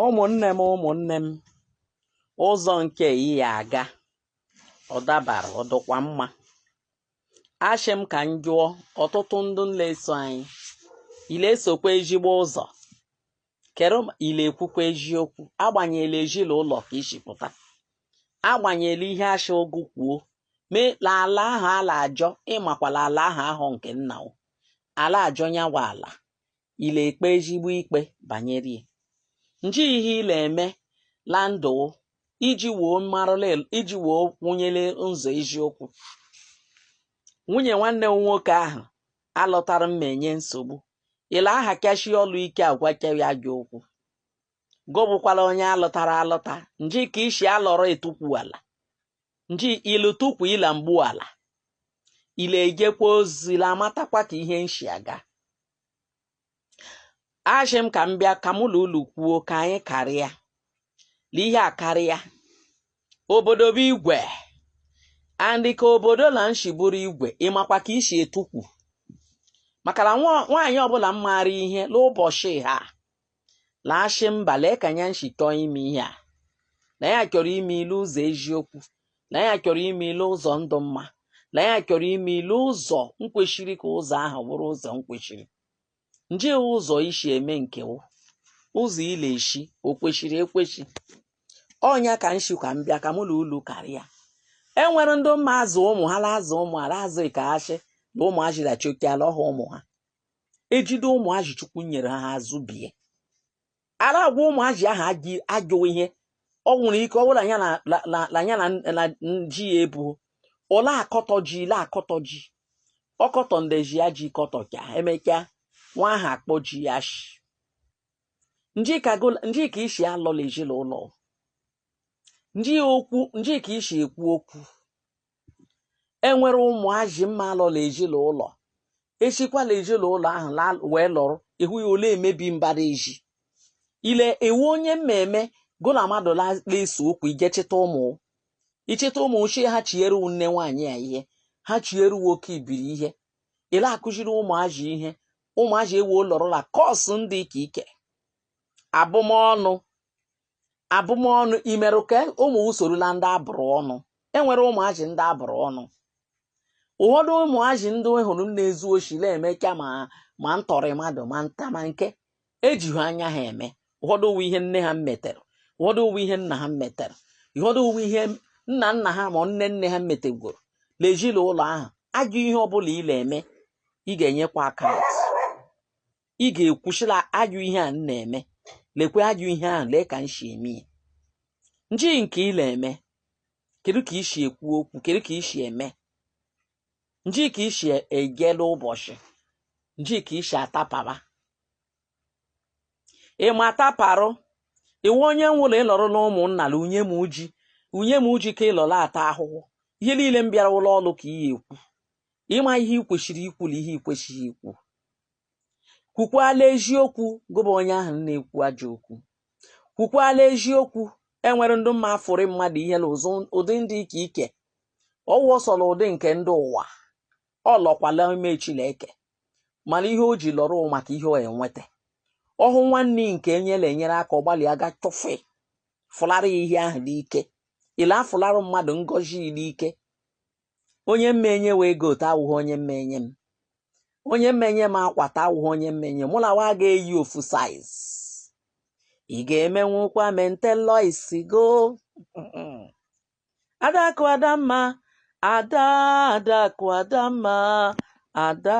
ụmụnne m ụmụnne m ụzọ nke ị ya aga ọ dabara ọ dịkwa mma ashị m ka m jụọ ọtụtụ ndị la-eso anyị i le-esokwa ezigbo ụzọ kere ma i le-ekwukwa eziokwu agbanyela ezinụlọ ka i si pụta agbanyela ihe achị ogu kwuo mee la ala ahụ a la-azọ ị makwa la ala ahụ ahụ nke nna o a la-azọ nyawa ala i le-ekpe ezigbo ikpe banyere ya nji ihe i le-eme la ndụ iji woo marụla iji woo kwụnyere n'ụzọ eziokwu nwunye nwanne m nwoke ahụ a lụtara m enye nsogbu ile aha kashi ọlụ ike agwa kewi ajọ okwu gobụkwala onye a lụtara alụta nji ka i si alọrọ etukwu ala nji ilu tukwu ila mgbu ala i le-ejekwa ozi la amatakwa ka ihe nshi aga ashị m ka m bịa ka mụ na unu kwuo ka anyị karịa na ihe a karịa obodo bụ igwe andị ka obodo na nshi bụrụ igwe ị makwa ka i si etukwu maka na nwa- nwaanyị ọbụla mmaara ihe n'ụbọchị ha la-ashị mba lee ka ya nshi chọọ ime ihe a na ya chọrọ ime ihe l'ụzọ eziokwu na ya chọrọ ime ihe l'ụzọ ndụ mma na ya chọrọ ime ihe l'ụzọ nkwesiri ka ụzọ ahụ bụrụ ụzọ nkwesiri nje ụzọ i si eme nke wụ ụzọ i le-esi o kwesiri ekwesi ọ nya ka m shị ka m bịa ka mụ na ulu karịa e nwere ndị mma azụ ụmụ ha la-azụ ụmụ ha la-azụ ka a shị na ụmụ achịrachokiala ọha ụmụ ha ejide ụmụazị chukwu nyere ha azụbie a la-agwa ụmụazị ahụ ajọ ihe ọ nwere ike ọ bụ la ya na la- la- la ya na na ji ya ebu ọ la-akọtọ ji i la-akọtọ ji ọ kọtọ ndezi ya ji kọtọcha emechaa nwa ahụ akpọ ji ya ashị njika gola- njika i si alọ la ezinụlọ njika okwu njika i si ekwu okwu enwere ụmụazị mma alọ la ezinụlọ esikwa la ezinụlọ ahụ la wee lọrọ ị hụ ya o le-emebi mbara ezi ile iwu onye mmemme gị na mmadụ la- na-ese okwu i je chịta ụmụ ị chịta ụmụ gị ha chiere wu nne nwaanyị ya ihe ha chiere wu oke ibiri ihe i la-akụziri ụmụazị ihe ụmụazị ewe lọrọ la curse ndị ka ike abụmọnụ abụmọnụ i mere ka ụmụ gị soro la ndị a bụrụ ọnụ enwere ụmụazị ndị a bụrụ ọnụ ụfọdụ ụmụazị ndị ị hụrụ na-ezu oshi na-emecha ma ma ntọrị mmadụ ma nta ma nke ejighị anya ha eme ụfọdụ ọ wụ ihe nne ha metere ụfọdụ ọ wụ ihe nna ha metere ụfọdụ ọ wụ ihe nna nna ha ma nne nne ha metegworo n'ezinụlọ ahụ ajọ ihe ọbụla ị na-eme ị ga-enyekwa account ị ga-ekwuchila ajọ ihe a na-eme lekwe ajọ ihe ahụ lee ka m si eme ya nji nke ị na-eme kedu ka i si ekwu okwu kedu ka i si eme nji ka i si ejela ụbọchị nji ka i si atapara ịma ataparụ iwe onye nwụrụ ịlọrọ na ụmụnna la unye m uji unye m uji ka ịlọrọ ata ahụhụ ihe niile m bịara ụlọ ọrụ ka ị ya ekwu ịma ihe ị kwesịrị ikwu na ihe ị kwesịghị ikwu kwukwala eziokwu gị bụ onye ahụ na-ekwu ajọ okwu kwukwala eziokwu e nwere ndị mma afụrị mmadụ ihe na ụzụ ụdị ndị ike ike ọ wụ ọsọrọ ụdị nke ndị ụwa ọ lọkwala ime Chineke mana ihe o ji lọrọ maka ihe ọ enweta ọ hụ nwanne nke enyela enyere aka ọ gbalịa ga chọfe fụlara ya ihe ahụ n'ike ị la-afụlara mmadụ ngọzi n'ike onye mma enye wee ego ta awụghị onye mma enye m onye mma enye m akwa ta awụghị onye mma enye mụ na wa ga-eyi ofu saiz ị ga-emenwukwa mentelọ isi go adakụ adamma ada adakụ adamma ada